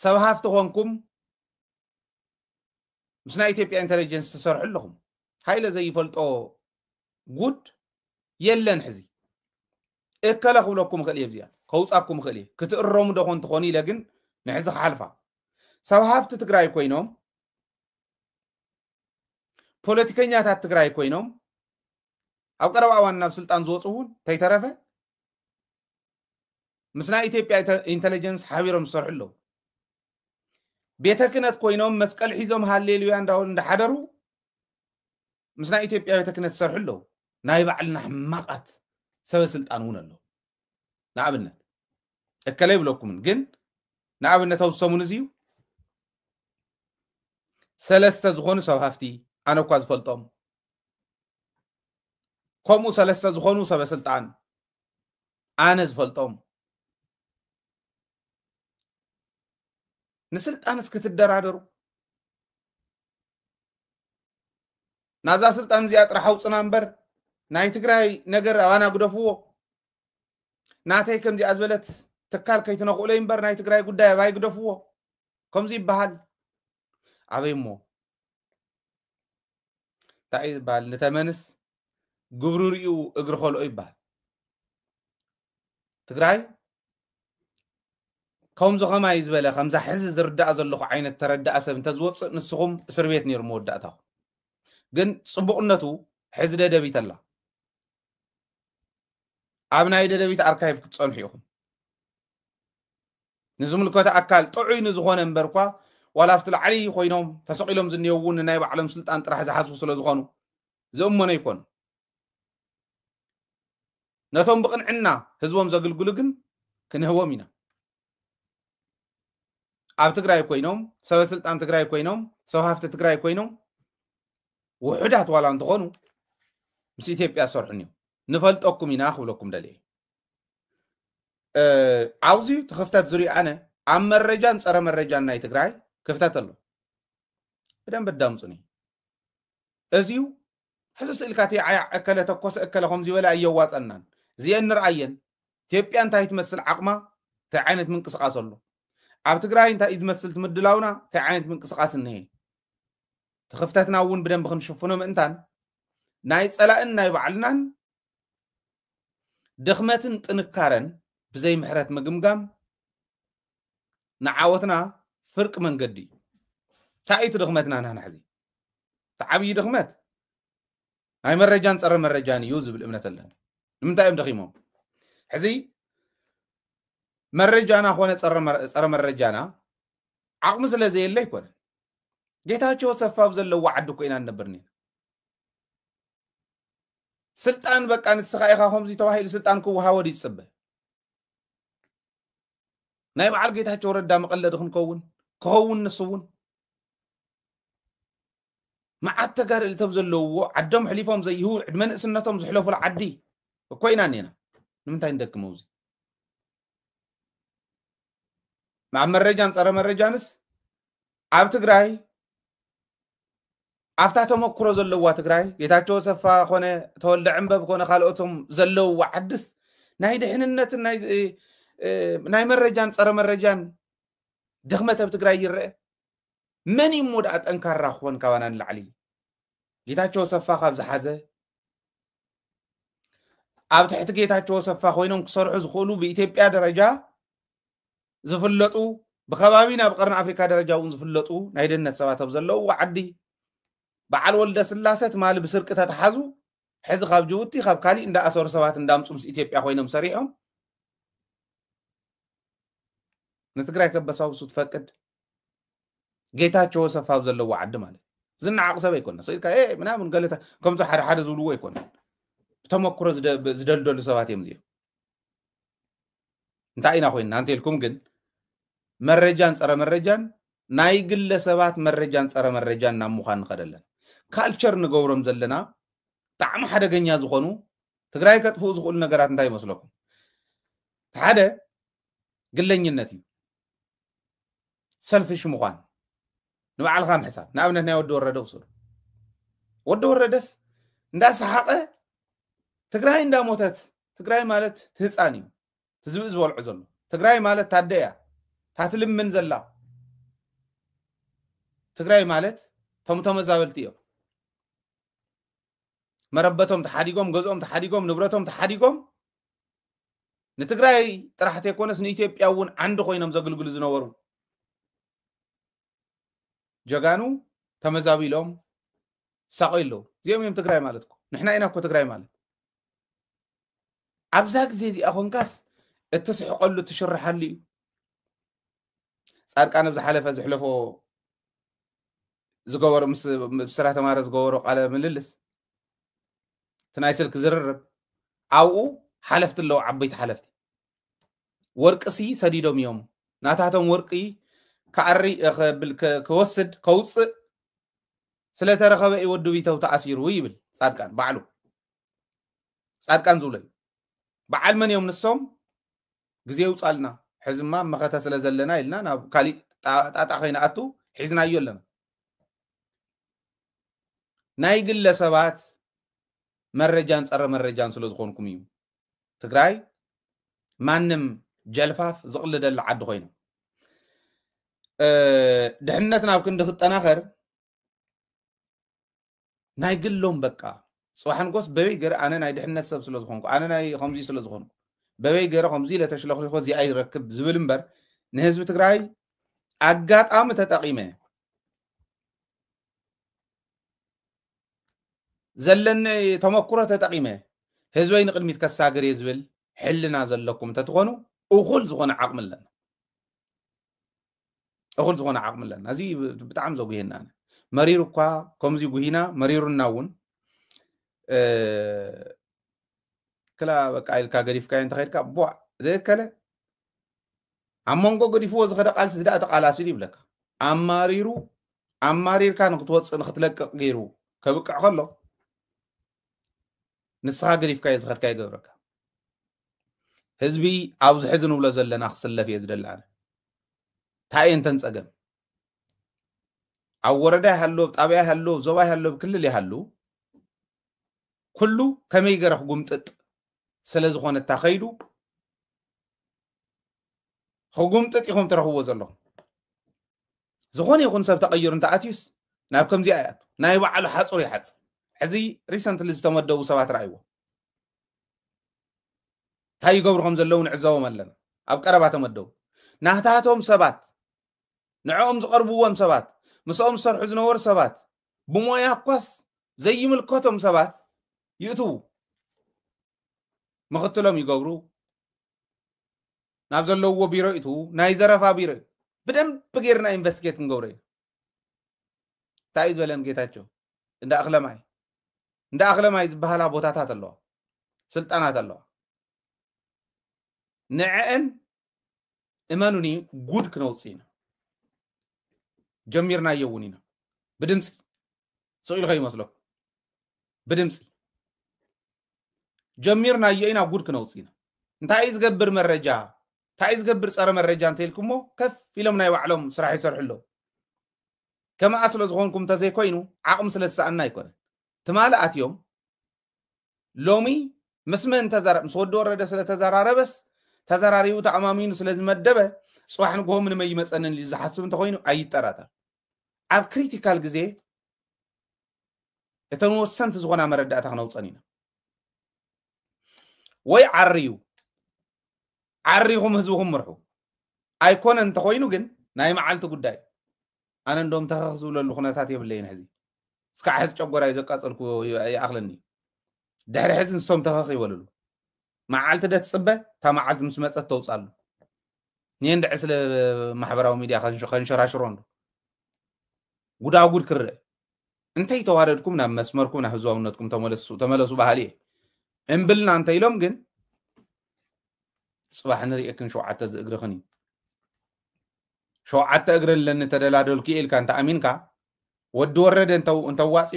ሰብ ሃፍቲ ኮንኩም ምስ ናይ ኢትዮጵያ ኢንተለጀንስ ትሰርሑ ኣለኹም ሃይለ ዘይፈልጦ ጉድ የለን ሕዚ እከለ ክብለኩም እኽእል እየ እዚኣ ከውፃኩም እኽእል እየ ክትእረሙ ዶ ኮን ትኾኑ ኢለ ግን ንሕዚ ክሓልፋ ሰብ ሃፍቲ ትግራይ ኮይኖም ፖለቲከኛታት ትግራይ ኮይኖም ኣብ ቀረባ እዋን ናብ ስልጣን ዝወፁ እውን ተይተረፈ ምስ ናይ ኢትዮጵያ ኢንተለጀንስ ሓቢሮም ዝሰርሑ ኣለዉ ቤተ ክህነት ኮይኖም መስቀል ሒዞም ሃሌሉያ እንዳሓደሩ ምስ ናይ ኢትዮጵያ ቤተ ክህነት ዝሰርሑ ኣለዉ ናይ ባዕልና ሕማቃት ሰበ ስልጣን እውን ኣለዉ ንኣብነት እከለ ይብለኩምን ግን ንኣብነት ኣብ ሰሙን እዚ እዩ ሰለስተ ዝኾኑ ሰብ ሃፍቲ ኣነ እኳ ዝፈልጦም ከምኡ ሰለስተ ዝኾኑ ሰበ ስልጣን ኣነ ዝፈልጦም ንስልጣንስ ክትደራደሩ ናብዛ ስልጣን እዚኣ ጥራሕ ኣውፅና እምበር ናይ ትግራይ ነገር ኣባና ግደፍዎ ናተይ ከምዚኣ ዝበለት ትካል ከይትነኽእሎይ እምበር ናይ ትግራይ ጉዳይ ኣባይ ግደፍዎ ከምዚ ይበሃል ኣበይ እሞ እንታይ እዩ ዝበሃል ንተመንስ ግብሩ ርኡ እግሪ ኸልኦ ይበሃል ትግራይ ከምዚ ኸማይ ዝበለ ከምዛ ሕዚ ዝርዳእ ዘለኹ ዓይነት ተረዳእ ሰብ እንተዝወፅእ ንስኹም እስር ቤት ነይሩ መወዳእታኹም ግን ፅቡቕነቱ ሕዚ ደደቢት ኣላ ኣብ ናይ ደደቢት ኣርካይቭ ክትፀንሑ ኢኹም ንዝምልከቶ ኣካል ጥዑይ ንዝኾነ እምበርኳ ዋላ ኣብቲ ላዕሊ ኮይኖም ተሰቒሎም ዝኔው እውን ንናይ ባዕሎም ስልጣን ጥራሕ ዝሓስቡ ስለ ዝኾኑ ዝእመኖ ኣይኮኑ ነቶም ብቕንዕና ህዝቦም ዘግልግሉ ግን ክንህቦም ኢና ኣብ ትግራይ ኮይኖም ሰበ ስልጣን ትግራይ ኮይኖም ሰብ ሃፍቲ ትግራይ ኮይኖም ውሑዳት ዋላ እንትኾኑ ምስ ኢትዮጵያ ዝሰርሑን እዮም ንፈልጠኩም ኢና ክብለኩም ደልየ እ፣ ኣብዚ እቲ ክፍተት ዝሪኦ ኣነ ኣብ መረጃን ፀረ መረጃን ናይ ትግራይ ክፍተት ኣሎ ብደንብ ኣዳምፁኒ እዚዩ ሕዚ ስእልካ እቲ ዓያ እከለ ተኮሰ እከለ ከምዚ በለ ኣየዋፀናን እዚአን ንርኣየን ኢትዮጵያ እንታይ ትመስል ዓቕማ እንታይ ዓይነት ምንቅስቃስ ኣሎ ኣብ ትግራይ እንታይ እዩ ዝመስል ትምድላውና እንታይ ዓይነት ምንቅስቃስ እኒሀ እቲ ክፍተትና እውን ብደንብ ክንሽፍኖ ምእንታን ናይ ፀላእን ናይ ባዕልናን ድኽመትን ጥንካረን ብዘይ ምሕረት ምግምጋም ንዓወትና ፍርቂ መንገዲ እዩ። እንታይ እዩ እቲ ድኽመትና ንሕና ሕዚ? እቲ ዓብዪ ድኽመት ናይ መረጃን ፀረ መረጃን እዩ ዝብል እምነት ኣለኒ። ንምንታይ እዮም ደኺሞም? ሕዚ መረጃና ኮነ ፀረ መረጃና ዓቕሚ ስለ ዘየለ ኣይኮነ ጌታቸው ሰፋ ኣብ ዘለዎ ዓዲ እኮ ኢና ንነብር ነና ስልጣን በቃ ንስኻ ኢኻ ከምዚ ተባሂሉ ስልጣን ክወሃቦ ድዩ ዝፅበ ናይ በዓል ጌታቸው ረዳ መቐለዲ ክንከውን ክኸውን ንሱ እውን መዓት ተጋደል እቶም ዘለውዎ ዓዶም ሕሊፎም ዘይህቡ ዕድመ ንእስነቶም ዝሕለፉሉ ዓዲ እኮ ኢና እኔና ንምንታይ ንደክመው እዚ ናብ መረጃን ፀረ መረጃንስ ኣብ ትግራይ ኣብታ ተመክሮ ዘለዋ ትግራይ ጌታቸው ሰፋ ኮነ ተወልደ ዕንበብ ኮነ ካልኦቶም ዘለውዋ ዓድስ ናይ ድሕንነትን ናይ መረጃን ፀረ መረጃን ድኽመት ኣብ ትግራይ ይረአ መን እዩ እሞ ደኣ ጠንካራ ክኾን ካባና ንላዕሊ ጌታቸው ሰፋ ካብ ዝሓዘ ኣብ ትሕቲ ጌታቸው ኣሰፋ ኮይኖም ክሰርሑ ዝኽእሉ ብኢትዮጵያ ደረጃ ዝፍለጡ ብከባቢ ናብ ቀርኒ ኣፍሪካ ደረጃ እውን ዝፍለጡ ናይ ደህንነት ሰባት ኣብ ዘለውዎ ዓዲ በዓል ወልደ ስላሰ ትማሊ ብስርቂ ተተሓዙ ሕዚ ካብ ጅቡቲ ካብ ካሊእ እንዳኣሰሩ ሰባት እንዳምፁ ምስ ኢትዮጵያ ኮይኖም ሰሪሖም ንትግራይ ከበሳውሱ ትፈቅድ ጌታቸው ወሰፋ ኣብ ዘለዎ ዓዲ ማለት ዝነዓቕ ሰብ ኣይኮነ ስኢልካ ምናምን ገለ ከምዚ ሓደ ሓደ ዝብልዎ ኣይኮነ ብተመክሮ ዝደልደሉ ሰባት እዮም እዚኦም እንታይ ኢና ኮይንና እንተልኩም ግን መረጃን ፀረ መረጃን ናይ ግለ ሰባት መረጃን ፀረ መረጃን ናብ ምዃን ንኸደ ኣለና ካልቸር ንገብሮም ዘለና ብጣዕሚ ሓደገኛ ዝኾኑ ትግራይ ከጥፍኡ ዝኽእሉ ነገራት እንታይ ይመስለኩም ሓደ ግለኝነት እዩ ሰልፊሽ ምዃን ንባዕልኻ ምሕሳብ ንኣብነት ናይ ወዲ ወረደ ውሰዱ ወዲ ወረደስ እንዳሰሓቐ ትግራይ እንዳሞተት ትግራይ ማለት ትህፃን እዩ ትዝብኢ ዝበልዖ ዘሎ ትግራይ ማለት ታደ እያ ታትልምን ዘላ ትግራይ ማለት ቶም ተመዛበልቲ እዮም መረበቶም ተሓዲጎም ገዝኦም ተሓዲጎም ንብረቶም ተሓዲጎም ንትግራይ ጥራሕ ተይኮነስ ንኢትዮጵያ እውን ዓንዲ ኮይኖም ዘግልግሉ ዝነበሩ ጀጋኑ ተመዛቢሎም ሳቆይ ኣለዉ እዚኦም እዮም ትግራይ ማለት እኮ ንሕና ኢና እኮ ትግራይ ማለት ኣብዛ ግዜ እዚኣ ኮንካስ እትስሕቀሉ እትሽርሓሉ እዩ ፃድቃን ኣብ ዝሓለፈ ዝሕለፎ ዝገበሮ ምስ ስራ ተማረ ዝገበሮ ቃለ ምልልስ እቲ ናይ ስልኪ ዝርርብ ኣብኡ ሓለፍቲ ኣለዉ ዓበይቲ ሓለፍቲ ወርቂ ሲ ሰዲዶም እዮም ናታቶም ወርቂ ክኣሪ ክወስድ ከውፅእ ስለተረኸበ እዩ ወዲ ቢተው ተኣሲሩ ይብል ፃድቃን ባዕሉ ፃድቃን ዝብሎ እዩ በዓል መን እዮም ንሶም ግዜ ይውፃልና ሕዝማ መኸተ ስለ ዘለና ኢልና ናብ ካሊእ ጣጣ ከይንኣቱ ሒዝናዮ ኣለና ናይ ግለ ሰባት መረጃን ፀረ መረጃን ስለ ዝኾንኩም እዩ ትግራይ ማንም ጀልፋፍ ዝቕልደላ ዓዲ ኮይና ድሕነት ናብ ክንዲ ክጠናኸር ናይ ግሎም በቃ ፅባሕ ንጎስ በበይ ገረ ኣነ ናይ ድሕነት ሰብ ስለ ዝኾንኩ ኣነ ናይ ከምዚ ስለ ዝኾንኩ በበይ ገረ ከምዚ ኢለ ተሽለኽሊኾ እዚኣ ይረክብ ዝብል እምበር ንህዝቢ ትግራይ ኣጋጣሚ ተጠቂመ ዘለኒ ተመክሮ ተጠቂመ ህዝበይ ንቅድሚት ከሳግር እየ ዝብል ሕልና ዘለኩም እንተትኾኑ እኹል ዝኾነ ዓቕሚ ኣለና እኹል ዝኾነ ዓቕሚ ኣለና እዚ ብጣዕሚ ዘጉሄና መሪሩ እኳ ከምዚ ጉሂና መሪሩና እውን ክላ በቃ ኢልካ ገዲፍካ እንተኸድካ ቧ ዘይከለ ኣብ መንጎ ገዲፍዎ ዝኸደ ቃልሲ ዝደኣ ተቃላሲሉ ይብለካ ኣማሪሩ ኣማሪርካ ንክትወፅእ ንክትለቅቕ ገይሩ ከብቅዕ ከሎ ንስኻ ገዲፍካዮ ዝኸድካ ይገብረካ ህዝቢ ኣብዚ ሕዚ ንብሎ ዘለና ክስለፍ እየ ዝደሊ ኣነ እንታይ እየን ተን ፀገም ኣብ ወረዳ ይሃሉ ኣብ ጣብያ ይሃሉ ኣብ ዞባ ይሃሉ ኣብ ክልል ይሃሉ ኩሉ ከመይ ገረ ክጉምጥጥ ስለዝኾነ እታ ከይዱ ህጉምጥጥ ኢኹም ትረኽብዎ ዘለኹም ዝኾነ ይኹን ሰብ ተቐይሩ እንተኣትዩስ ናብ ከምዚኣ ይኣቱ ናይ ባዕሉ ሓፁር ይሓፅ ሕዚ ሪሰንትሊ ዝተመደቡ ሰባት ረኣይዎ እንታይ ይገብሩ ከም ዘለዉ ንዕዘቦም ኣለና ኣብ ቀረባ ተመደቡ ናታቶም ሰባት ንዕኦም ዝቐርብዎም ሰባት ምስኦም ዝሰርሑ ዝነበሩ ሰባት ብሞያ እኳስ ዘይምልከቶም ሰባት ይእትዉ ምኽትሎም ይገብሩ ናብ ዘለውዎ ቢሮ ይእትዉ ናይ ዘረፋ ቢሮ እዩ ብደንብ ጌርና ኢንቨስቲጌት ክንገብሮ እዩ እንታይ እዩ ዝበለን ጌታቸው እንዳ እኽለማይ እንዳ እኽለማይ ዝበሃላ ቦታታት ኣለዋ ስልጣናት ኣለዋ ንዕአን እመኑኒ ጉድ ክነውፅእ ኢና ጀሚርናዮ እውን ኢና ብድምፂ ስቕ ኢሉ ከይመስለኩም ብድምፂ ጀሚርናዮ ኢና ጉድ ክነውፅእ ኢና እንታይ እዩ ዝገብር መረጃ እንታይ እዩ ዝገብር ፀረ መረጃ እንተኢልኩሞ ከፍ ኢሎም ናይ ባዕሎም ስራሕ ይሰርሑ ኣለዉ ከምኣ ስለ ዝኾንኩም እንተዘይኮይኑ ዓቕሚ ስለ ዝሰኣና ኣይኮነን ትማሊ ኣትዮም ሎሚ ምስ መን ተዘራ ምስ ወዲ ወረደ ስለ ተዘራረበስ ተዘራሪቡ ተኣማሚኑ ስለ ዝመደበ ፅባሕ ንግሆ ምንም ኣይመፀንን ኢሉ ዝሓስብ እንተኮይኑ ኣይጠራጠር ኣብ ክሪቲካል ግዜ እተን ወሰንቲ ዝኾና መረዳእታ ክነውፀን ኢና ወይ ዓርዩ ዓሪኹም ህዝብኹም ምርሑ ኣይኮነ እንተኮይኑ ግን ናይ መዓልቲ ጉዳይ ኣነ እንዶም ተኸኽ ዝብለሉ ኩነታት የብለይን ሕዚ እስካዕ ሕዚ ጨጎራይ ዘቃጸልኩ ይኣኽለኒ ድሕሪ ሕዚ ንሶም ተኸኽ ይበልሉ መዓልቲ ደ ትጽበ እታ መዓልቲ ምስ መጸት ተውጻሉ እኔ እንድዕ ስለ ማሕበራዊ ሚድያ ከንሸራሽሮ እንዶ ጉዳጉድ ክርእ እንተይ ተዋደድኩም ናብ መስመርኩም ናብ ህዝባውነትኩም ተመለሱ ባህሊ እየ እምብልና እንተ ኢሎም ግን ፅባሕ ንርእክን ሸውዓተ ዝእግርኽን እዩ ሸውዓተ እግሪ ኣለኒ ተደላደልኩ እየ ኢልካ እንተኣሚንካ ወዲ ወረደ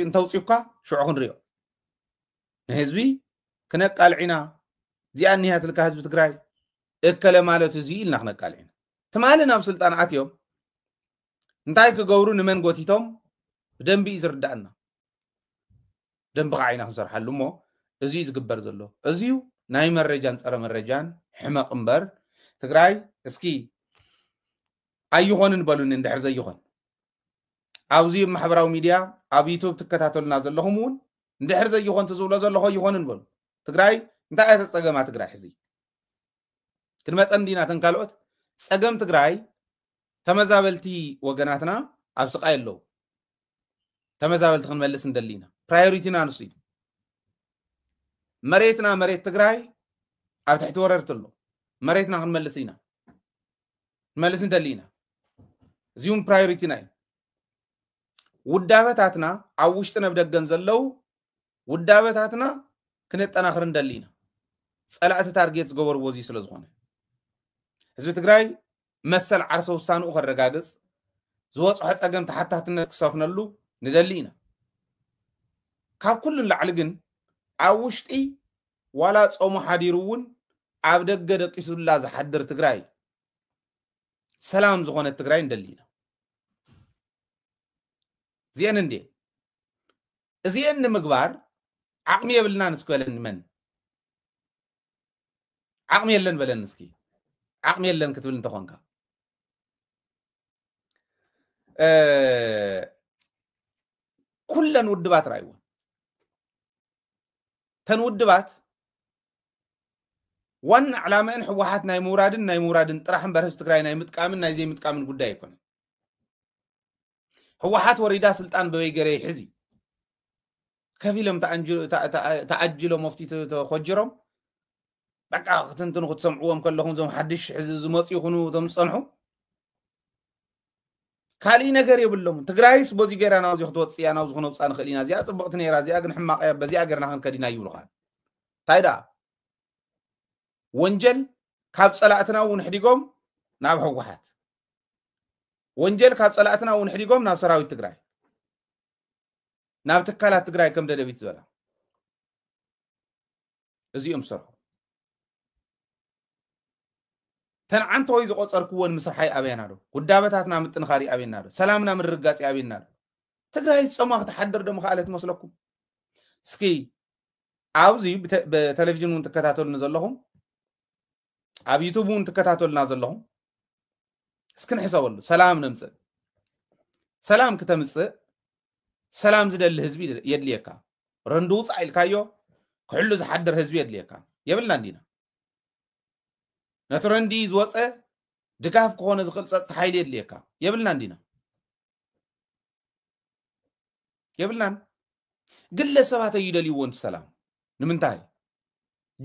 እንተውፅዩካ ሽዑ ክንሪኦ ንህዝቢ ክነቃልዕ ኢና እዚኣ እኒሃትልካ ህዝቢ ትግራይ እከለ ማለት እዚ ኢልና ክነቃልዕ ኢና ትማሊ ናብ ስልጣን ኣትዮም እንታይ ክገብሩ ንመን ጎቲቶም ብደንቢ እዩ ዝርዳእና ደንቢ ካዓ ኢና ክንሰርሓሉ እሞ እዚ እዩ ዝግበር ዘሎ እዚ እዩ ናይ መረጃን ፀረ መረጃን ሕመቅ እምበር ትግራይ እስኪ ኣይኾንን በሉኒ እንድሕር ዘይኾን ኣብዚ ማሕበራዊ ሚድያ ኣብ ዩቱብ ትከታተሉና ዘለኹም እውን እንድሕር ዘይኾን ትዝብሎ ዘለኾ ይኾንን በሉ ትግራይ እንታይ እያ ተፀገማ ትግራይ ሕዚ ክንመፀን ዲና ተን ካልኦት ፀገም ትግራይ ተመዛበልቲ ወገናትና ኣብ ስቃይ ኣለዉ ተመዛበልቲ ክንመልስ ንደሊ ኢና ፕራዮሪቲና ንሱ እዩ መሬትና መሬት ትግራይ ኣብ ትሕቲ ወረርቲ ኣሎ መሬትና ክንመልስ ኢና ክንመልስ ንደሊ ኢና እዚ እውን ፕራዮሪቲና እዩ ውዳበታትና ኣብ ውሽጥን ኣብ ደገን ዘለው ውዳበታትና ክነጠናኽር ንደሊ ኢና ፀላእቲ ታርጌት ዝገበርዎ እዚ ስለ ዝኾነ ህዝቢ ትግራይ መሰል ዓርሰ ውሳንኡ ከረጋግፅ ዝወፅሖ ፀገም ተሓታትነት ክሰፍነሉ ንደሊ ኢና ካብ ኩሉ ንላዕሊ ግን ኣብ ውሽጢ ዋላ ፆሙ ሓዲሩ እውን ኣብ ደገ ደቂሱላ ዝሓድር ትግራይ ሰላም ዝኾነት ትግራይ ንደሊ ኢና እዚአን እንዴ እዚኤን ንምግባር ዓቅሚ የብልናን እስኪ በለኒ መን ዓቅሚ የለን በለኒ እስኪ ዓቅሚ የለን ክትብል እንተኾንካ ኩለን ውድባት ራይወን ተን ውድባት ዋና ዕላመአን ህወሓት ናይ ምውራድን ናይ ምውራድን ጥራሕ እምበር ህዝቢ ትግራይ ናይ ምጥቃምን ናይ ዘይምጥቃምን ጉዳይ ኣይኮነን ህወሓት ወሪዳ ስልጣን በበይ ገረ ይሕዝ እዩ ከፊሎም ተኣጅሎ መፍቲ ተኮጅሮም በቃ ክትንትኑ ክትሰምዕዎም ከለኹም እዞም ሓድሽ ሕዚ ዝመፁ ይኹኑ እቶም ዝፀንሑ ካልእ ነገር የብሎምን ትግራይስ በዚ ገይራ ናብዚ ክትወፅ እያ ናብዚ ክነውፃ ንኽእል ኢና እዚኣ ፅብቕቲ ነይራ እዚኣ ግን ሕማቕ እያ በዚኣ ገርና ክንከድ ኢና ይብሉኻ እንታይ ደኣ ወንጀል ካብ ፀላእትና እውን ሕዲጎም ናብ ህወሓት ወንጀል ካብ ፀላእትና እውን ሕዲጎም ናብ ሰራዊት ትግራይ ናብ ትካላት ትግራይ ከም ደደቢት ዝበላ እዚኦም ዝሰርሑ ተንዓንተወይ ዝቆፀርክዎን ምስርሓይ ኣበየና ዶ ውዳበታትና ምጥንኻሪ ኣበየና ዶ ሰላምና ምርግጋፂ ኣበየና ዶ ትግራይ ዝፀማ ክትሓድር ዶ ምክኣለት መስለኩም እስኪ ኣብዚ ብተለቪዥን እውን ትከታተሉኒ ዘለኹም ኣብ ዩቱብ እውን ትከታተሉና ዘለኹም እስኪ ንሕሰበሉ ሰላም ነምፅእ ሰላም ክተምፅእ ሰላም ዝደሊ ህዝቢ የድልየካ ረንዲ ውፃእ ኢልካዮ ክሕሉ ዝሓድር ህዝቢ የድልየካ የብልና እንዲና ነቲ ረንዲ ዝወፀ ድጋፍ ክኾነ ዝኽእል ፀፅታ ሓይሊ የድልየካ የብልና እንዲና የብልናን ግለ ሰባት ኣይደልይዎን ሰላም ንምንታይ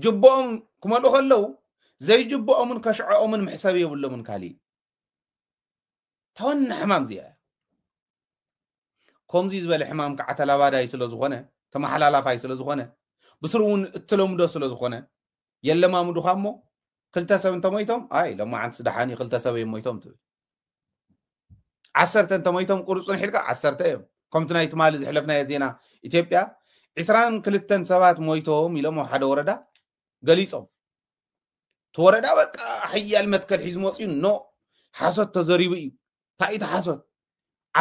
ጅቦኦም ክመልኡ ከለው ዘይጅቦኦምን ከሽዐኦምን መሕሰብ የብሎምን ካሊእ ተወና ሕማም እዚኣ ከምዚ ዝበለ ሕማም ከዓ ተላባዳይ ስለ ዝኾነ ተመሓላላፋይ ስለ ዝኾነ ብስሩ እውን እትለምዶ ስለ ዝኾነ የለማምዱኻ እሞ ክልተ ሰብ እንተሞይቶም ኣይ ሎማዓንትስ ደሓን እዩ ክልተ ሰብ እዮም ሞይቶም ትብል ዓሰርተ እንተሞይቶም ቁርፁን ሒልካ ዓሰርተ እዮም ከምቲ ናይ ትማሊ ዝሕለፍናዮ ዜና ኢትዮጵያ ዕስራን ክልተን ሰባት ሞይቶም ኢሎም ኣብ ሓደ ወረዳ ገሊፆም እቲ ወረዳ በቃ ሓያል መትከል ሒዙ መፅኡ ኖ ሓሶት ተዘሪቡ እዩ እንታይ እቲ ሓሶት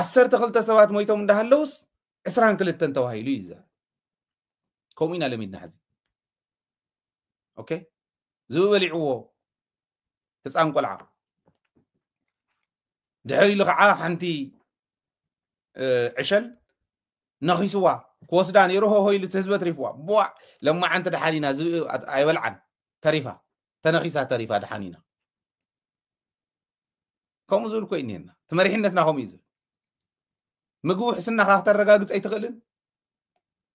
ዓሰርተ ክልተ ሰባት ሞይቶም እንዳሃለውስ ዕስራን ክልተን ተባሂሉ እዩ ዘ ከምኡ ኢና ለሚድና ሕዚ ኦኬ ዝብበሊዕዎ ህፃን ቆልዓ ድሕር ኢሉ ከዓ ሓንቲ ዕሸል ነኺስዋ ክወስዳ ነይሩ ሆሆ ኢሉ ህዝበ ትሪፍዋ ቦዕ ለማዓንቲ ድሓን ኢና ዝብኢ ኣይበልዓን ተሪፋ ተነኺሳ ተሪፋ ድሓን ኢና ከምኡ ዝብል ኮይ እኒሄና እቲ መሪሕነትና ከምኡ እዩ ዝብል ምግቢ ውሕስናኻ ክተረጋግፅ ኣይትኽእልን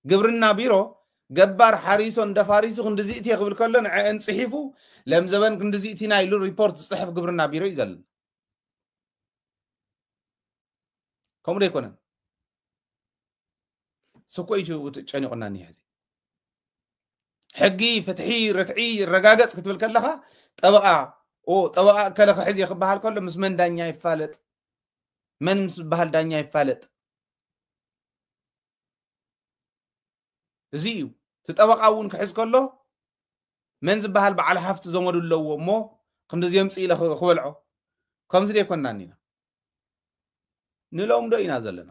ግብርና ቢሮ ገባር ሓሪሶ እንደፋሪሱ ክንዲ ዝእትየ ክብል ከሎ ንዐአን ፅሒፉ ለምዘበን ክንዲ ዝእቲና ኢሉ ሪፖርት ዝፅሕፍ ግብርና ቢሮ እዩ ዘለና ከምኡ ዶ ኣይኮነን ስኮ እዩ ጨኒቑና እኒሀ እዚ ሕጊ ፍትሒ ርትዒ ይረጋገፅ ክትብል ከለኻ ጠበቓ ጠበቓ እከለ ክሕዝ እየ ክበሃል ከሎ ምስ መን ዳኛ ይፋለጥ መን ምስ ዝበሃል ዳኛ ይፋለጥ እዚ እዩ እቲ ጠበቃ እውን ክሕዝ ከሎ መን ዝበሃል በዓል ሃፍቲ ዘመዱ ኣለዎ እሞ ክንዲ ዘምፅ ኢለ ክበልዖ ከምዚ ዘይኮናን ኢና ንሎምዶ ኢና ዘለና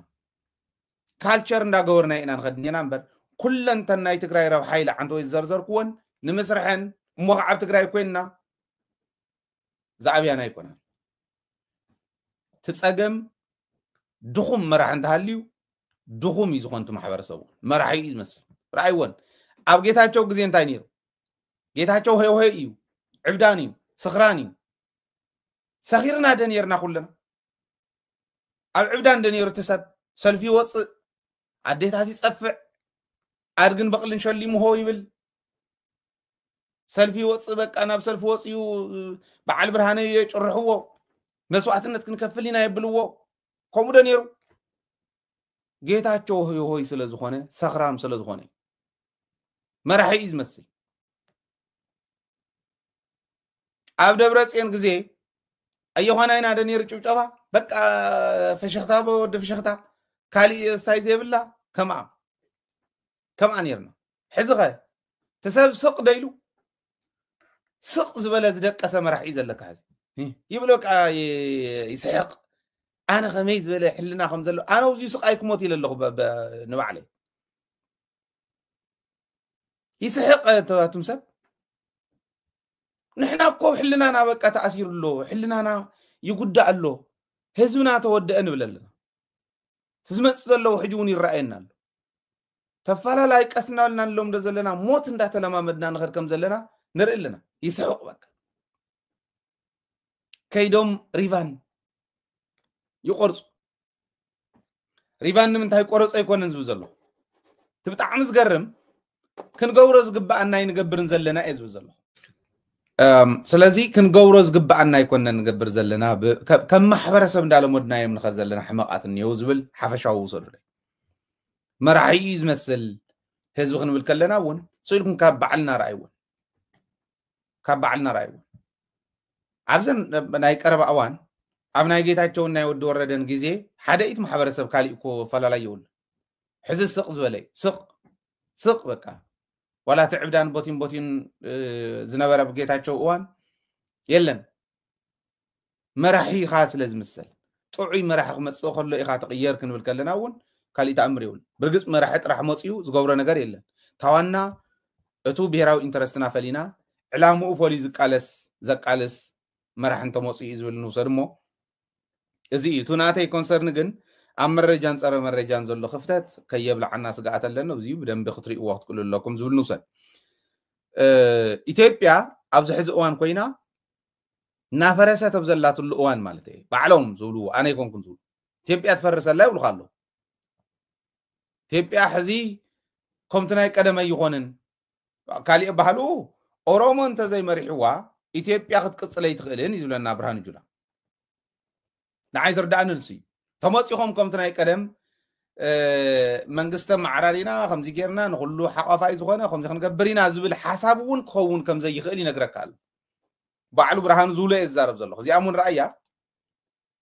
ካልቸር እንዳገበርና ኢና ንኸድ እኔና እምበር ኩለንተን ናይ ትግራይ ረብሓ ኢለ ዓንተ ወይ ዝዘርዘርክወን ንምስርሐን እሞ ከዓ ኣብ ትግራይ ኮይንና ዝኣብያና ኣይኮናን እቲ ፀገም ድኹም መራሒ እንተሃልዩ ድኹም እዩ ዝኾን እቲ ማሕበረሰቡ መራሒ እዩ ዝመስል ረኣይዎን ኣብ ጌታቸው ግዜ እንታይ ነይሩ ጌታቸው ሄውሄ እዩ ዕብዳን እዩ ስኽራን እዩ ሰኺርና ደ ነርና ኩልና ኣብ ዕብዳን ደ ነይሩ እቲ ሰብ ሰልፊ ይወፅእ ኣዴታት ይፀፍዕ ኣድግን በቕልን ሸሊሙ ሆ ይብል ሰልፊ ይወፅእ በቃ ናብ ሰልፊ ወፅኡ በዓል ብርሃነ የጭርሕዎ መስዋእትነት ክንከፍል ኢና የብልዎ ከምኡ ዶ ነይሩ ጌታቸው ሆይ ስለ ዝኾነ ሰኽራም ስለ ዝኾነ እዩ። መራሒ እዩ ዝመስል ኣብ ደብረ ፅዮን ግዜ ኣየዃና ኢና ዶ ነይሩ ጭብጨባ በቃ ፈሸኽታ ወዲ ፈሸኽታ ካሊእ ስታይ ዘይብላ ከምኣ ከምኣ ኔርና ሕዚ ከ ትሰብ ስቅ ዶ ኢሉ ስቅ ዝበለ ዝደቀሰ መራሒ እዩ ዘለካ ሕዚ ይብሎ ከዓ ይስሕቅ ኣነ ከመይ ዝበለ ሕልና ከም ዘሎ ኣነ ውዚ ስቃይ ክሞት ኢለ ኣለኹ ንባዕለይ ይስሕቅ ተባቱም ሰብ ንሕና እኮ ሕልናና በቃ ተኣሲሩ ኣሎ ሕልናና ይጉዳእ ኣሎ ህዝብና ተወደአ ንብል ኣለና እቲ ዝመፅእ ዘለዎ ሕጂ እውን ይረኣየና ኣሎ ተፋላላይ ቀስ እናበልና ንለምዶ ዘለና ሞት እንዳተለማመድና ንኸድ ከም ዘለና ንርኢ ኣለና ይስሕቕ በቃ ከይዶም ሪቫን ይቆርፁ ሪቫን ንምንታይ ቆረፆ ኣይኮነን ዝብል ዘሎ እቲ ብጣዕሚ ዝገርም ክንገብሮ ዝግባኣና ኣይንገብርን ዘለና እየ ዝብል ዘለኹ ስለዚ ክንገብሮ ዝግባኣና ኣይኮነ ንገብር ዘለና ከም ማሕበረሰብ እንዳለመድናዮም ንኸድ ዘለና ሕመቃት እኒው ዝብል ሓፈሻዊ ውሰዱ መራሒ እዩ ዝመስል ህዝቢ ክንብል ከለና እውን ስኢልኩም ካብ ባዕልና ረኣይውን ካብ ባዕልና ረኣይውን ኣብዘን ናይ ቀረባ እዋን ኣብ ናይ ጌታቸውን ናይ ወዲ ወረደን ግዜ ሓደ ኢት ማሕበረሰብ ካሊእ እኮ ኣፈላላይ የብሉ ሕዚ ስቕ ዝበለዩ ስቕ ስቕ በቃ ዋላ እቲ ዕብዳን ቦቲን ቦቲን ዝነበረ ብ ጌታቸው እዋን የለን መራሒ ኢኻ ስለ ዝምሰል ጥዑይ መራሒ ክመፅእ ከሎ ኢኻ ትቕየር ክንብል ከለና እውን ካልእ ተኣምር ይብሉ ብርግፅ መራሒ ጥራሕ መፅኡ ዝገብሮ ነገር የለን ታዋና እቱ ብሄራዊ ኢንተረስትና ፈሊና ዕላምኡ ፈልዩ ዝቃለስ ዘቃልስ መራሒ እንተመፅኡ እዩ ዝብል ንውሰድ እሞ እዚ እዩ እቲ ናተይ ኮንሰርን ግን ኣብ መረጃን ፀረ መረጃን ዘሎ ክፍተት ከየብላዓና ስግኣት ኣለኒ እዚ ብደንቢ ክትሪእዎ ክትክእሉ ኣለኩም ዝብል ንውሰድ ኢትዮጵያ ኣብዚ ሕዚ እዋን ኮይና እናፈረሰት ኣብ ዘላትሉ እዋን ማለት እዩ ባዕሎም ዝብልዎ ኣነ ይኮንኩም ዝብሉ ኢትዮጵያ ትፈርሰላ ይብሉካ ኣለዉ ኢትዮጵያ ሕዚ ከምቲ ናይ ቀደም ኣይኮንን ካሊእ ኣባህልኡ ኦሮሞ እንተዘይ መሪሕዋ ኢትዮጵያ ክትቅፅል ኣይትኽእልን እዩ ዝብለና ብርሃኑ ጁላ ንዓይ ዝርዳእኒ ንሱ እዩ ተመፂኹም ከምቲ ናይ ቀደም መንግስተ ማዕራሪና ከምዚ ጌርና ንኩሉ ሓቋፋይ ዝኾነ ከምዚ ክንገብር ኢና ዝብል ሓሳብ እውን ክኸውን ከም ዘይኽእል ይነግረካ ኣሎ ባዕሉ ብርሃኑ ዝብሎ እየ ዝዛረብ ዘለኹ እዚኣ እውን ረኣያ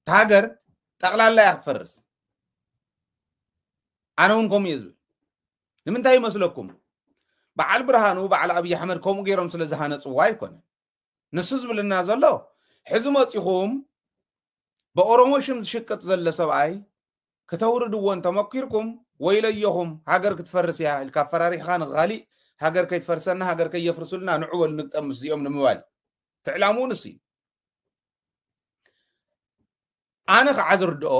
እታ ሃገር ጠቕላላ እያ ክትፈርስ ኣነ እውን ከምኡ እየ ዝብል ንምንታይ ይመስለኩም በዓል ብርሃኑ በዓል ኣብዪ ኣሕመድ ከምኡ ገይሮም ስለ ዝሃነፅዋ ኣይኮነ ንሱ ዝብልና ዘሎ ሕዚ መፂኹም ብኦሮሞ ሽም ዝሽቅጥ ዘሎ ሰብኣይ ክተውርድዎ እንተመኪርኩም ወይለየኹም ሃገር ክትፈርስ እያ ኢልካ ኣፈራሪሕኻ ንኻሊእ ሃገር ከይትፈርሰና ሃገር ከየፍርሱልና ንዑበሉ ንግጠም ምስዚኦም ንምባል ፍዕላሙ ንሱ እዩ ኣነ ከዓ ዝርድኦ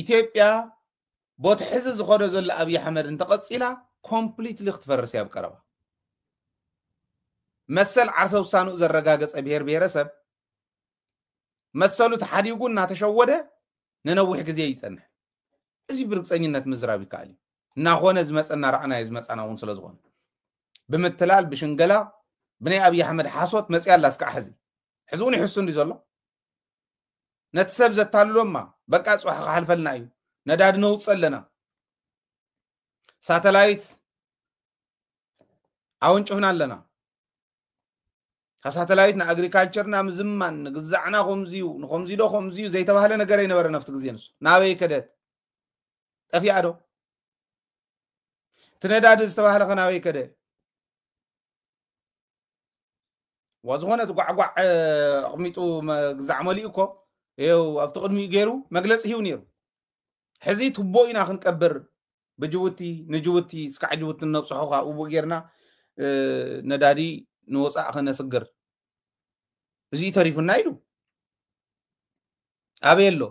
ኢትዮጵያ ቦቲ ሕዚ ዝኸዶ ዘሎ ኣብዪ ኣሕመድ እንተቐፂላ ኮምፕሊትሊ ክትፈርስ እያ ኣብ ቀረባ መሰል ዓርሰ ውሳንኡ ዘረጋገፀ ብሄር ብሄረሰብ መሰሉ ተሓዲጉ እናተሸወደ ንነዊሕ ግዜ ይፀንሕ እዚ ብርግፀኝነት ምዝራብ ይከኣል እዩ እናኾነ ዝመፀና ራዕናዮ ዝመፃና እውን ስለዝኾነ ብምትላል ብሽንገላ ብናይ ኣብዪ ኣሕመድ ሓሶት መፅያ ኣላ እስካዕ ሕዚ ሕዚ እውን ይሕሱ እንዲ ዘሎ ነቲ ሰብ ዘታልሎማ በቃ ፅባሕ ክሓልፈልና እዩ ነዳዲ ነውፅ ኣለና ሳተላይት ኣወንጭፍና ኣለና ሳተላይት ንኣግሪካልቸርና ምዝማን ንግዛዕና ከምዚ እዩ ንከምዚ ዶ ከምዚ እዩ ዘይተባህለ ነገር ኣይነበረ ናብቲ ግዜ ንሱ ናበይ ከደት ጠፊኣ ዶ እቲ ነዳዲ ዝተባህለ ከናበይ ከደ ዝኾነ እቲ ጓዕጓዕ ኣቕሚጡ ግዛዕ መሊኡ እኮ ይው ኣብቲ ቅድሚኡ ገይሩ መግለፂ ሂቡ ነይሩ ሕዚ ትቦ ኢና ክንቀብር ብጅቡቲ ንጅቡቲ ስካዕ ጅቡቲ ነብፅሖ ከዓ ውቡእ ጌርና ነዳዲ ንወፃእ ከነስግር እዚ ተሪፉና ኢሉ ኣበይ ኣሎ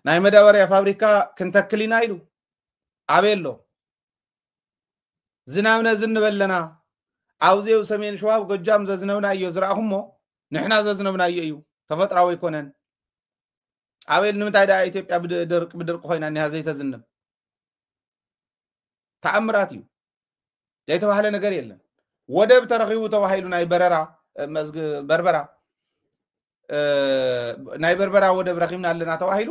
ናይ መዳበርያ ፋብሪካ ክንተክል ኢና ኢሉ ኣበይ ኣሎ ዝናብ ነዚ ንበለና ኣብዚው ሰሜን ሸዋብ ጎጃም ዘዝነብናዮ ዝረእኹሞ ንሕና ዘዝነብናዮ እዩ ተፈጥራዊ ኣይኮነን ኣበይ ንምንታይ ደኣ ኢትዮጵያ ብድርቂ ብድርቂ ኮይና እኒሃ ዘይተዝንብ ተኣምራት እዩ ዘይተባህለ ነገር የለን። ወደብ ተረኺቡ ተባሂሉ ናይ በረራ በርበራ ናይ በርበራ ወደብ ረኺብና ኣለና ተባሂሉ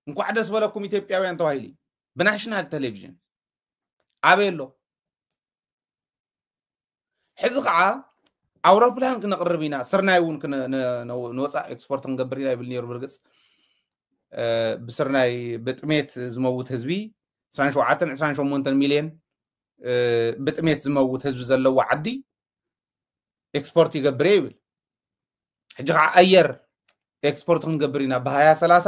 እንኳዕ ደስ በለኩም ኢትዮጵያውያን ተባሂሉ ብናሽናል ቴሌቪዥን ኣበይ ኣሎ ሕዚ ከዓ ኣውሮፕላን ክነቕርብ ኢና ስርናይ እውን ንወፃእ ኤክስፖርት ክንገብር ኢና ይብል ነይሩ ብርግፅ ብስርናይ ብጥሜት ዝመውት ህዝቢ 27 28 ሚልዮን ብጥሜት ዝመውት ህዝቢ ዘለዎ ዓዲ ኤክስፖርት ይገብር እየ ይብል ሕጂ ከዓ ኣየር ኤክስፖርት ክንገብር ኢና ብሃያ ሰላሳ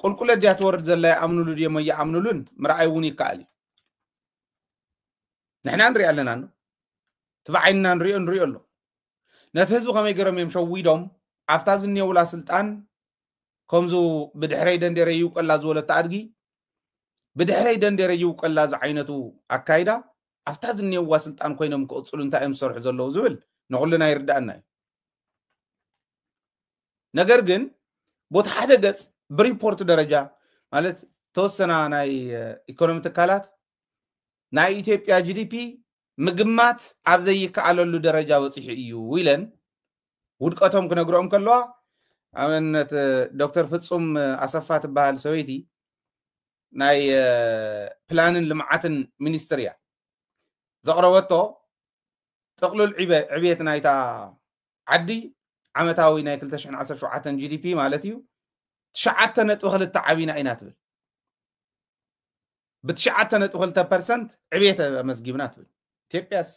ቁልቁለት ድያ ትወርድ ዘላ ይኣምንሉ ድሞ ይኣምንሉን ምርኣይ እውን ይከኣል እዩ ንሕና ንሪኣ ኣለና ኖ እቲ ብዓይንና ንሪኦ ንሪኦ ኣሎ ነቲ ህዝቢ ከመይ ገይሮም እዮም ሸዊዶም ኣብታ ዝኔውላ ስልጣን ከምዚ ብድሕረይ ደንዴረ ይውቀላ ዝበለቶ ኣድጊ ብድሕረይ ደንዴረ ይውቀላ ዝዓይነቱ ኣካይዳ ኣብታ ዝኔዋ ስልጣን ኮይኖም ክቕፅሉ እንታይ እዮም ዝሰርሑ ዘለዉ ዝብል ንኩልና ይርዳእና እዩ ነገር ግን ቦቲ ሓደ ገፅ ብሪፖርት ደረጃ ማለት ተወሰና ናይ ኢኮኖሚ ትካላት ናይ ኢትዮጵያ ጂዲፒ ምግማት ኣብ ዘይከኣለሉ ደረጃ በፂሑ እዩ ኢለን ውድቀቶም ክነግርኦም ከለዋ ኣብነት ዶክተር ፍፁም ኣሰፋ ትበሃል ሰበይቲ ናይ ፕላንን ልምዓትን ሚኒስትር እያ ዘቕረበቶ ጥቕሉል ዕብየት ናይታ ዓዲ ዓመታዊ ናይ ክልተ ሽሕን ዓሰርተ ሸውዓተን GDP ማለት እዩ ትሽዓተ ነጥቢ ክልተ ዓቢና ኢና ትብል ብትሽዓተ ነጥቢ ክልተ ፐርሰንት ዕብየት ኣመዝጊብና ትብል ኢትዮጵያስ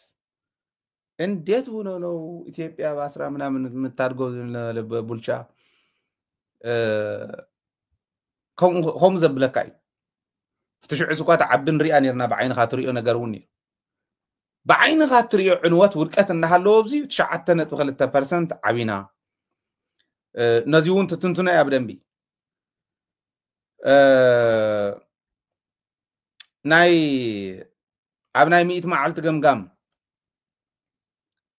እንዴት ሆኖ ነው ኢትዮጵያ በአስራ ምናምን የምታድገው ቡልቻ ከምኡ ዘብለካ እዩ ትሽዑስ እኳ ተዓቢ ንሪኣ ነርና ብዓይንካ ትሪኦ ነገር እውን እዩ ብዓይንኻ እትሪኦ ዕንወት ውድቀት እንዳሃለዎ ኣብዚ ትሽዓተ ነጥቢ ክልተ ፐርሰንት ዓቢና ነዚ እውን ትትንትኖ እያ ብደንቢ ናይ ኣብ ናይ ሚእቲ መዓልቲ ገምጋም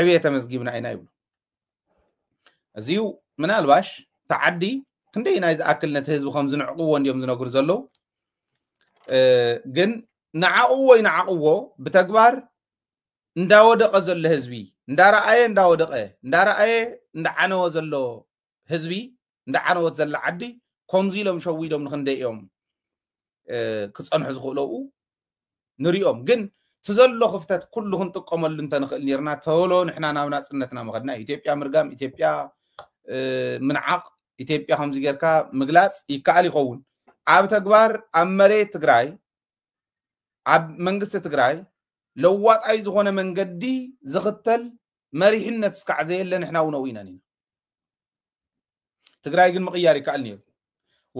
ዕብየ ተመዝጊብና ኢና ይብሉ እዚዩ ምናልባሽ ተዓዲ ክንደይ ናይ ዝኣክል ነቲ ህዝቢ ከም ዝንዕቅዎ እንዲዮም ዝነግሩ ዘለዉ ግን ንዓቕዎ ይንዓቕዎ ብተግባር እንዳወደቐ ዘሎ ህዝቢ እንዳረኣየ እንዳወደቐ እንዳረኣየ እንዳዓነወ ዘሎ ህዝቢ እንዳ ዓነወት ዘላ ዓዲ ከምዚ ኢሎም ሸዊዶም ንክንደይ እዮም ክፀንሑ ዝኽእለኡ ንሪኦም ግን እቲ ዘሎ ክፍተት ኩሉ ክንጥቀመሉ እንተንኽእል ነርና ተሎ ንሕና ናብ ናፅነትና መኸድና ኢትዮጵያ ምርጋም ኢትዮጵያ ምንዓቕ ኢትዮጵያ ከምዚ ጌርካ ምግላፅ ይከኣል ይኸውን ኣብ ተግባር ኣብ መሬት ትግራይ ኣብ መንግስቲ ትግራይ ለዋጣይ ዝኾነ መንገዲ ዝኽተል መሪሕነት እስካዕ ዘየለ ንሕና እውን ኣውኢና ኢና ትግራይ ግን ምቕያር ይከኣል ነይሩ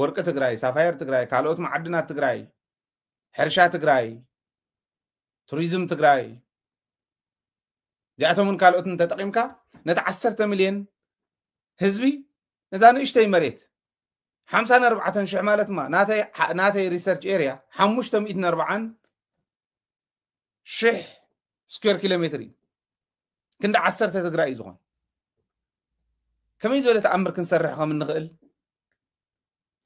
ወርቂ ትግራይ ሳፋየር ትግራይ ካልኦት መዓድናት ትግራይ ሕርሻ ትግራይ ቱሪዝም ትግራይ እዚኣቶምን ካልኦትን ተጠቂምካ ነቲ ዓሰርተ ሚልዮን ህዝቢ ነዛ ንእሽተይ መሬት ሓምሳን ኣርባዕተን ሽሕ ማለት ማ ናተይ ሪሰርች ኤርያ ሓሙሽተ ሚእትን ኣርባዓን ሽሕ ስኩዌር ኪሎ ሜትር እዩ ክንዲ ዓሰርተ ትግራይ እዩ ዝኾን ከመይ ዝበለ ተኣምር ክንሰርሕ ከም እንኽእል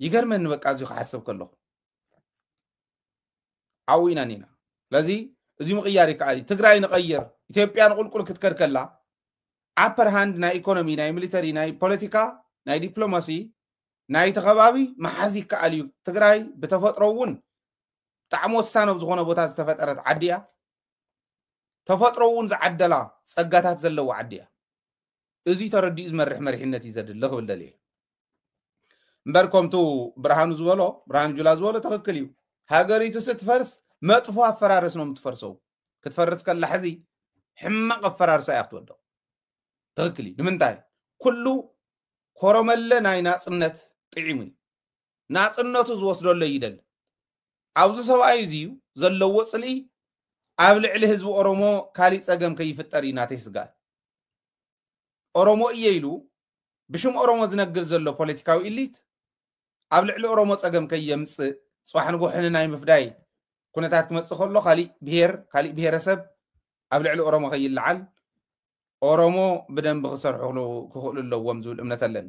ይገርመኒ በቃ እዚ ክሓስብ ከለኹ ኣብኡ ኢና ኒና ስለዚ እዚ ምቕያር ይከኣል እዩ ትግራይ ንቐይር ኢትዮጵያ ንቁልቁል ክትከድ ከላ ኣፐር ሃንድ ናይ ኢኮኖሚ ናይ ሚሊተሪ ናይ ፖለቲካ ናይ ዲፕሎማሲ ናይቲ ከባቢ መሓዝ ይከኣል እዩ ትግራይ ብተፈጥሮ እውን ብጣዕሚ ወሳኒ ኣብ ዝኾነ ቦታ ዝተፈጠረት ዓዲ እያ ተፈጥሮ እውን ዝዓደላ ጸጋታት ዘለዎ ዓዲ እያ እዚ ተረዲኡ ዝመርሕ መሪሕነት እዩ ዘድሊ ክብል ደልየ እምበር ከምቱ ብርሃኑ ዝበሎ ብርሃኑ ጁላ ዝበሎ ትኽክል እዩ ሃገሪቱ ስትፈርስ መጥፎ ኣፈራርስ ነው የምትፈርሰው ክትፈርስ ከላ ሕዚ ሕማቕ ኣፈራርሳ እያ ክትወደቕ ትኽክል እዩ ንምንታይ ኩሉ ኮረመለ ናይ ናፅነት ጥዒሙ እዩ ናጽነቱ ዝወስደሎ ይደሊ። ኣውዚ ሰብኣይ እዚዩ ዘለዎ ጽልኢ ኣብ ልዕሊ ህዝቢ ኦሮሞ ካሊእ ጸገም ከይፍጠር እዩ ናተይ ስግኣት። ኦሮሞ እየ ኢሉ ብሽም ኦሮሞ ዝነግር ዘሎ ፖለቲካዊ ኢሊት ኣብ ልዕሊ ኦሮሞ ጸገም ከየምጽእ ጽባሕ ንጎሕ ንናይ ምፍዳይ ኩነታት ክመጽእ ከሎ ካሊእ ብሄር ካሊእ ብሄረሰብ ኣብ ልዕሊ ኦሮሞ ከይለዓል ኦሮሞ ብደንቢ ክሰርሑ ክኽእሉ ኣለዎም ዝብል እምነት ኣለኒ